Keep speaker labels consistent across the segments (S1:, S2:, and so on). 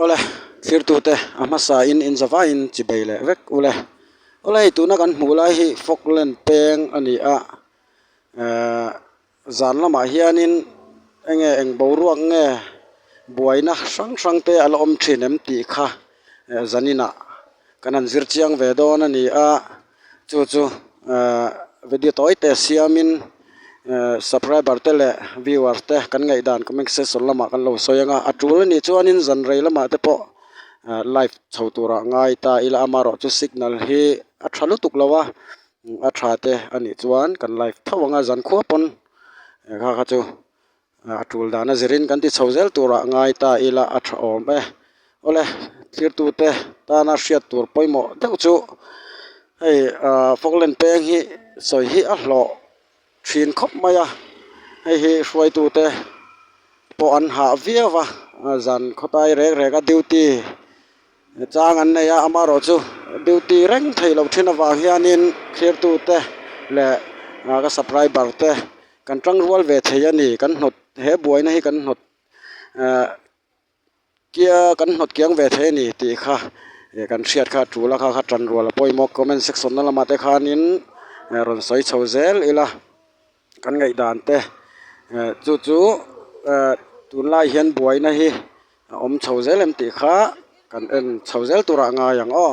S1: Awle, thirtute, a hmasain in zavaiin chi bei leh vek ule. Awle hei tuna kan hmuh lai hi Falkland peng a ni a, eh, zan lamah hianin enge eng boruak nge buaina hrang hrangte a la awm thin em tih kha zaninah, Kan han zir chiang ve dawn a ni a, chu chu video tawi te siamin subscriber te leh viewers te kan ngaih dan comment section lamah kan lo sawi anga a tul a nih chuanin zan rei lamah te pawh live chho turah ngai ta ila amarawh chu signal hi a tha lutuk lo a, a tha te a nih chuan kan live tho anga zan khua pawn he kha kha chu. A tul dan a zirin kan ti chho zel turah ngai ta ila a tha awm e. Awle thirtute tana hriat tur pawimawh deuh chu hei ah fawklen peng hi sawi hi a hlawh thin khawp mai a, hei hi hruaitute pawh an hah viau va, zan khawtai rek reka duty Chang an nei a, amaherawh chu duty reng thei loh thin avang hianin thirtu te leh ka subcriber te kan tang rual ve thei a ni. Kan hnawt he buaina hi kan hnawt ehh kia kan hnawt kiang ve thei a ni tih kha kan hriat kha a tul a, kha kha tan rual a pawimawh comment section na lamah te khanin rawn sawi chho zel ila. kan ngaih dan te chu chu tunlai hian buaina hi a awm chho zel em tih kha kan en chho zel tur a ngai ang aw.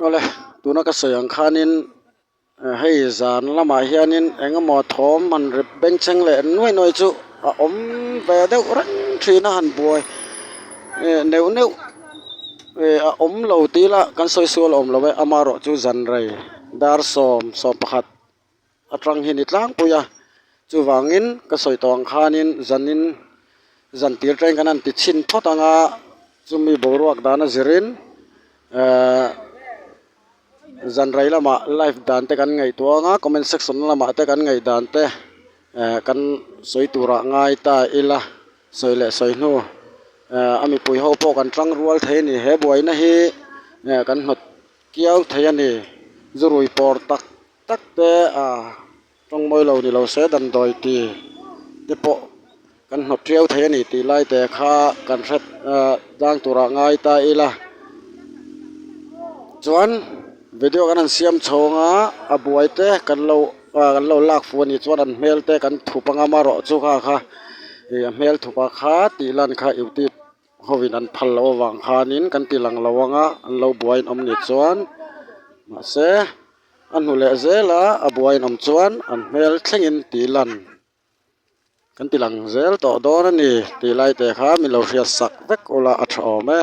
S1: awle tuna ka sawi ang khanin ah hei zan lamah hianin eng emaw thawm han rep bencheng leh nuai nuai chu a awm ve deuh reng thin a han buai eh neuh neuh eh a awm lo tila kan sawi sual a awm lo e amaherawhchu zanraii dar sawm sawmpakhat. A tang hi ni tlangpui a, chuvangin ka sawi tawh ang khanin zanin zan tir ṭain kan han ti chhin phawt ang a, chumi boruak dan a zirin ehh zanrei lamah live dan te kan ngaihtuang a, comment section lamah te kan ngaih dan te ehh kan sawi turah ngai ta ila, sawi leh sawi hnu ehh a mipui ho pawh kan ṭang rual thei a ni, he buaina hi ehh kan hnawt kiau thei a ni, zu rui pawr tak. tak te a tawng mawi lo ni lo se dan dawi ti te pawh kan hnawt riau thei a ni tih lai te kha kan hre ah dang tur ah ngai ta ila chuan video kan han siam chhawng a a buai te kan lo ah kan lo lak fuh a nih chuan an hmel te kan thup anga amaherawhchu kha kha ih a hmel thup a kha tih lan kha ih ti-- Hovin an phal loh avang khanin kan ti lang lo ang a, an lo buaiin awm ni chuan mahse a hnu leh zela a buaiin awm chuan an hmel thlengin tih lan kan ti lang zel tawh dawn a ni tih lai te kha min lo hriat sak vek ula a tha awm e.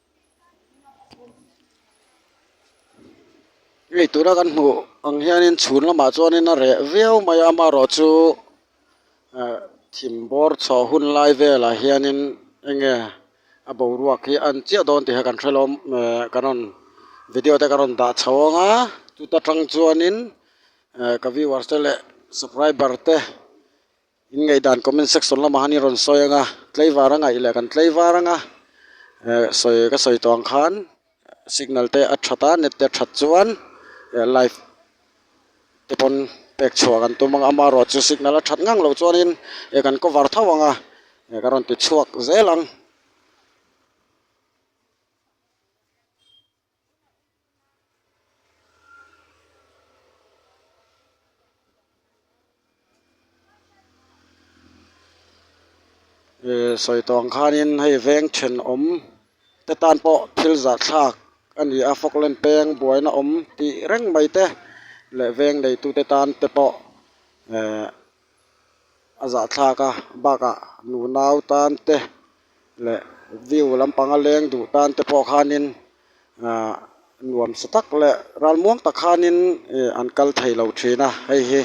S1: hei tuna kan hmuh ang hianin chhun lamah chuanin a reh viau mai a amarawh chu ah thim bawr chhoh hun lai velah hianin enge a boruak hi a an chiah dawn tih kha kan hrelawm eh kan rawn video te kan rawn dah chho ang a chuta tang chuanin eh ka viewers te leh subscriber te-- In ngaihdan comment section lamah hian in rawn sawi ang a tleivara ngaih leh kan tleivar ang a eh sawi ka sawi tawh ang khan signal te a that a net te a that chuan eh live te pawn pek chhuah kan tum ang a amaherawhchu chu signal a that ngang lo chuanin eh kan cover tho ang a eh ka rawn ti chhuak zel ang. sawi tawng khanin hei veng thenawm te tan pawh thil zahthlak a ni a fawk len peng buaina awm tih reng mai te leh veng neitute tan te pawh ehh-- a zahthlak a bakah nu nau tan te leh view lampanga leng duh tan te pawh khanin ahh nuam sa tak leh ralmuang tak khanin ih an kal thei lo thin a hei hi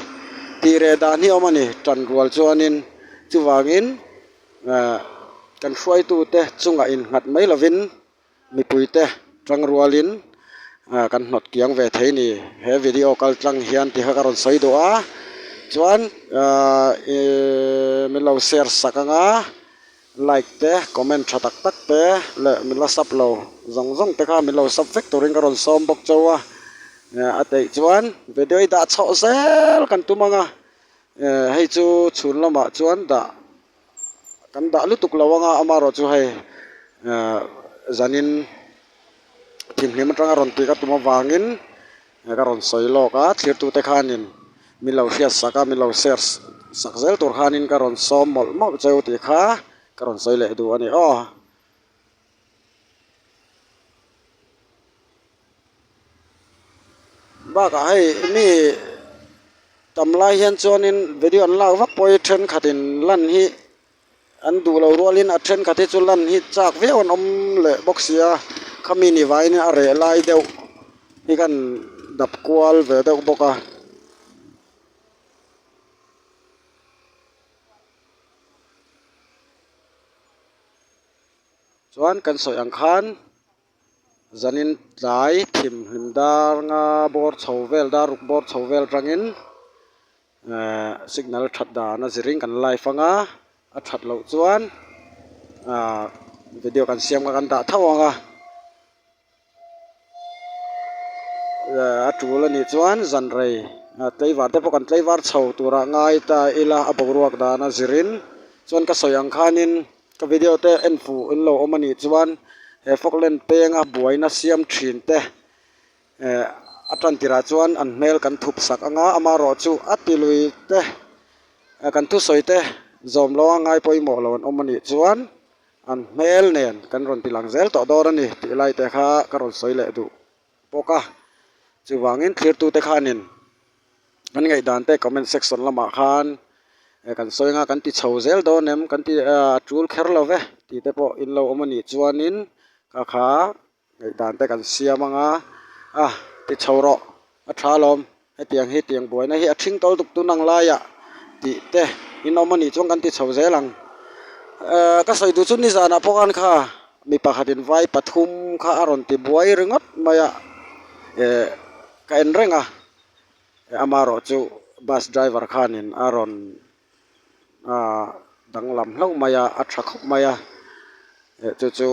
S1: tih reh dan hi awm a ni tan rual chuanin chuvangin ahh kan hruaitu te chungah innghat mai lovin. Mipuite tang rualin kan hnawt kiang ve thei ni he video kal tlang hian tihka ka rawn sawi duh a chuan ahh iihh min lo share sak ang a like te comment tha tak tak te leh min la sublo zawng zawng te kha min lo sub vek turin ka rawn sawm bawk chau a a teih chuan video i dah chauh zel kan tum ang a hei chu chhun lamah chuan dah-- kan dah lutuk lo anga amarawh chu hei ehh zanin thinhlim atanga rawn tih ka tum avangin ka rawn sawi lawk a thirtute khanin milo hriat sak a milo ser sak zel tur khanin ka rawn sawm mawlh mawlh cheu tih kha ka rawn sawi leh duh a ni aw. bakah hei mi tam lai hian chuanin video an lak vak pawh hi thenkhat in lan hi an duh lo rual in a thenkhat hi chu lan hi chak viau an awm leh bawk sia khami ni vain a reh lai deuh hi khan dap kual ve deuh bawk a. chuan kan sawi ang khan zanin tlai thim hlim dar nga bawr chho vel dar ruk bawr chho vel tangin ehh signal that dan a zi ring kan live ang a a that loh chuan ahh video kan siam kha kan dah tho ang a. a tul a nih chuan zanrei ah tleivar te pawh kan tleivar chho tur ah ngai ta ila a boruak dan a zir in chuan ka sawi ang khan in ka video te en fuh in lo awm a nih chuan he fog len peng a buai na siam thin te eh a tan tir ah chuan an hmel kan thup sak ang a ama erawh chu a ti lui te eh kan thusawi te zawm lo a ngai pawimawh lo an awm a nih chuan. An hmel nen kan rawn bilang zel tawh dawn a ni tih lai te kha ka rawn sawi leh duh bawk a, chuvangin thirtute khanin kan ngaihdan te comment section lamah khan kan sawi anga kan ti chho zel dawn em, kan ti a tul kher lo ve tih te pawh in lo awm a nih chuanin ka kha Ngaih dan te kan siam anga a ti chho rawh a tha lawm hetiang hi tiang buaina hi a thing kawl tuk tun ang laia tih te in awm anih chuan kan ti chho zel ang ehh ka sawi duh chu nizan ah pawhan kha mi pakhat in vai pathum kha a rawn ti buai ringawt mai a ehh ka en reng a ama erawh chu bus driver khan in a rawn ahh danglam hlauh mai a a tha khawp mai a eh chu chu.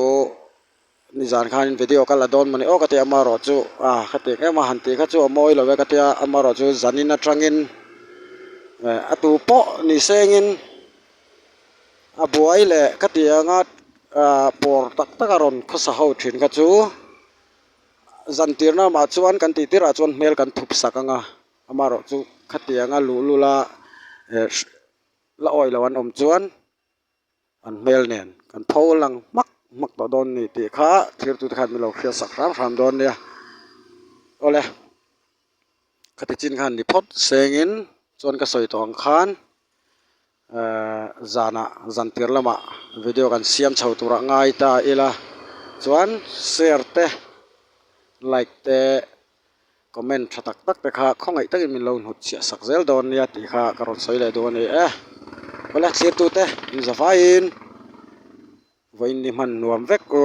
S1: Ni zan khanin video kal a dawn mawni aw ka ti a, amaherawh chu ah ka tih ngeuh mai a, han tih kha chu a mawi lo e ka ti a, amaherawh chu zanin atangin eh a tu pawh ni sengin a buai leh ka ti ang a ah pawr tak tak a rawn khawsa ho thin kha chu zan tirna lamah chuan kan tihtir ah chuan hmel kan thup sak ang a, amaherawh chu khatianga luhlula eh la awih loh an awm chuan An hmel nen kan tho lang hmak hmak tawh dawn ni tih kha thirtute khan min lo hriat sak hram hram dawn nia. Awle ka tichin khan ni phawt sengin chuan ka sawi tawh ang khan ehh zanah zantir lamah video kan siam chho turah ngai ta ila chuan share te like te. Comment tha tak tak te kha khawngaih takin min lo hnut chhiah sak zel dawn nia tih kha ka rawn sawi leh dawn a ni e. Awle thirtu te in za faiin vawiin ni hman nuam vek u.